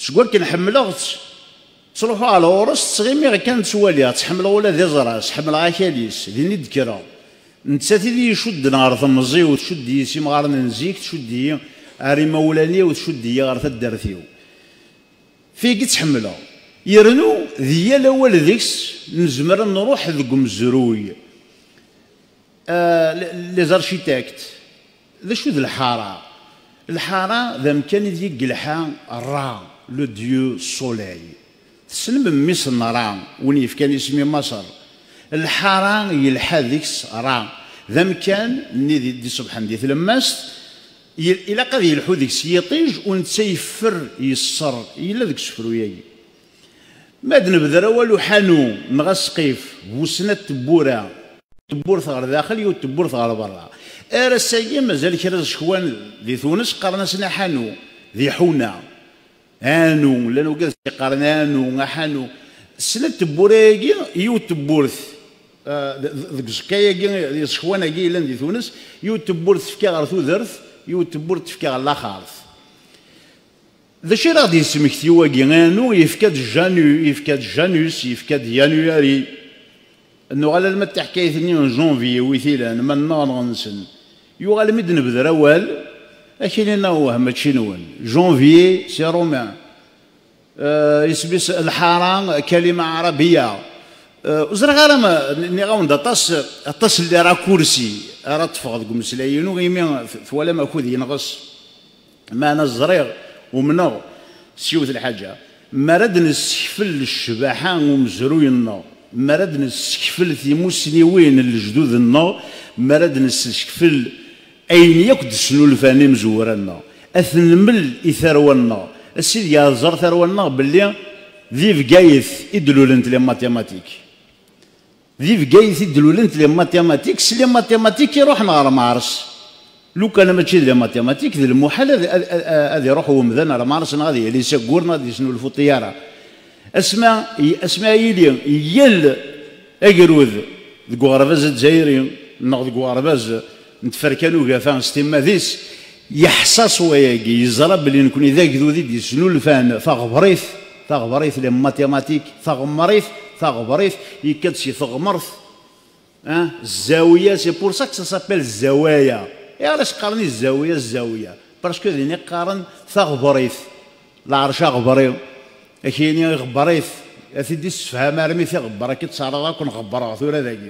Seg wakken ḥemmleɣ-tt, ttruḥuɣ ɣer ɣur-s, ttɣimiɣ kan ttwaliɣ-tt, ḥemmleɣ ula d iẓra-s, ḥemmleɣ akal-is, din i d-kkreɣ. Nettat i d-iyi-icudden ɣer temẓi-w, tcudd-iyi s imɣaren n zik, tcudd-iyi ɣer imawlan-iw, tcudd-iyi ɣer taddart-iw. Fig i tt-ḥemmleɣ. Yernu di yal awal deg-s nezmer ad nruḥ deg umezruy, les architectes. D acu d lḥara? Lḥara d amkan ideg i yelḥa Ra, le dieu soleil. Tessnem mmi-s n Ra, win yefkan isem i Maṣer? Lḥara yelḥa deg-s Ra, d amkan nni i d-iṣebḥen di tlemmast, ilaq ad yelḥu deg-s yiṭij u netta yeffer yesser, yella deg usefru-agi. Ma d nebder awal uḥanu neɣ asqif bu snat tewwura. Tewwurt ɣer daxel yiwet tewwurt ɣer berra. Ar ass-agi mazal kra zzekwan di Tunes qqaren-asen aḥanu d iḥuna. Aanu, llan wegad tt-iqqaren aanu, aḥanu. Snat tewwura-agi yiwet tewwurt deg uẓekka-agi d iẓekwan-agi yellan di Tunes, yiwet tewwurt tefka ɣer tudert, yiwet tewwurt tefka ɣer laxert. D acu ara ɣ-d-yesmekti wagi? Anu, yefka-d Janu, yefka-d Janus, yefka-d Yanuari. Ad nuɣal alma d tiḥkayt-nni n Janvier wi t-ilan, ma nneɣ neɣ nsen. Yuɣal mi d-nebder awal, akinin awah mačči nwen. Janvier, si romain. Isem-is lḥara, kalima ɛarabiya. Ur ẓriɣ ara ma nniɣ-awen-d aṭas, aṭas n lirakursi ara ṭṭfeɣ deg umeslay-inu imi twalam akud yenɣes. Meɛna ẓriɣ, umneɣ, s yiwet lḥaǧa, mi ara d-nessekfel ccbaḥa n umezruy-nneɣ, mi ara d-nessekfel timussniwin n lejdud-nneɣ, mi ara d-nessekfel ayen yakk d-snulfan imezwura-nneɣ, ad t-nmel i tarwa-nneɣ, a Sidi ad tẓer tarwa-nneɣ belli di Bgayet i d-lulent les mathématiques. Di Bgayet i d-lulent les mathématiques, les mathématiques i ruḥen ɣer Mars. Lukan mačči d les mathématiques, d lmuḥal ad iruḥ wemdan ar Mars neɣ ad yali s aggur neɣ ad yesnulfu ṭṭyara. Asmi asmi a yili yal agrud deg uɣerbaz azzayri neɣ deg uɣerbaz n tferka n ugafa s timmad-is, yeḥsa s wayagi, yeẓra belli nekni d agdud i d-yesnulfan taɣebrit, taɣebrit, les mathématiques, taɣemrit, taɣebrit, yekka-d si teɣmert, hein, zzawya, c'est pour ça que ça s'appelle zzawaya, ayɣer i s-qqaren i zzawya zzawya? parce que din i qqaren taɣebrit, lɛerc aɣebri, ad k-yini iɣebber-it, ad t-id-issefham armi tiɣebber, ad k-id-ttɛaraḍ akk nɣebbereɣ tura dagi.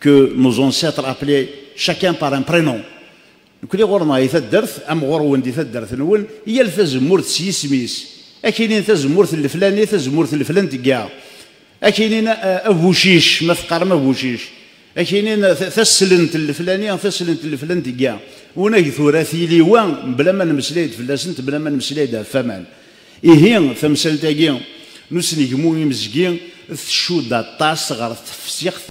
que nos ancêtres appelaient chacun par un prénom nekni ɣur-neɣ di taddart am ɣur-wen di taddart-nwen yal tazemmurt s yisem-is ad k-inin tazemmurt n leflani tazemmurt n leflantga ad k-inin eh, abucic ma teqqarem abucic ad k-inin taslent n leflani taslent n leflantga unag tura tili wa bla ma nemmeslay-d fell-asent bla ma nemmeslay-d ɣef waman ihi tamsalt-agi n usnegmu imezgi tcudd aṭas ɣer tefsixt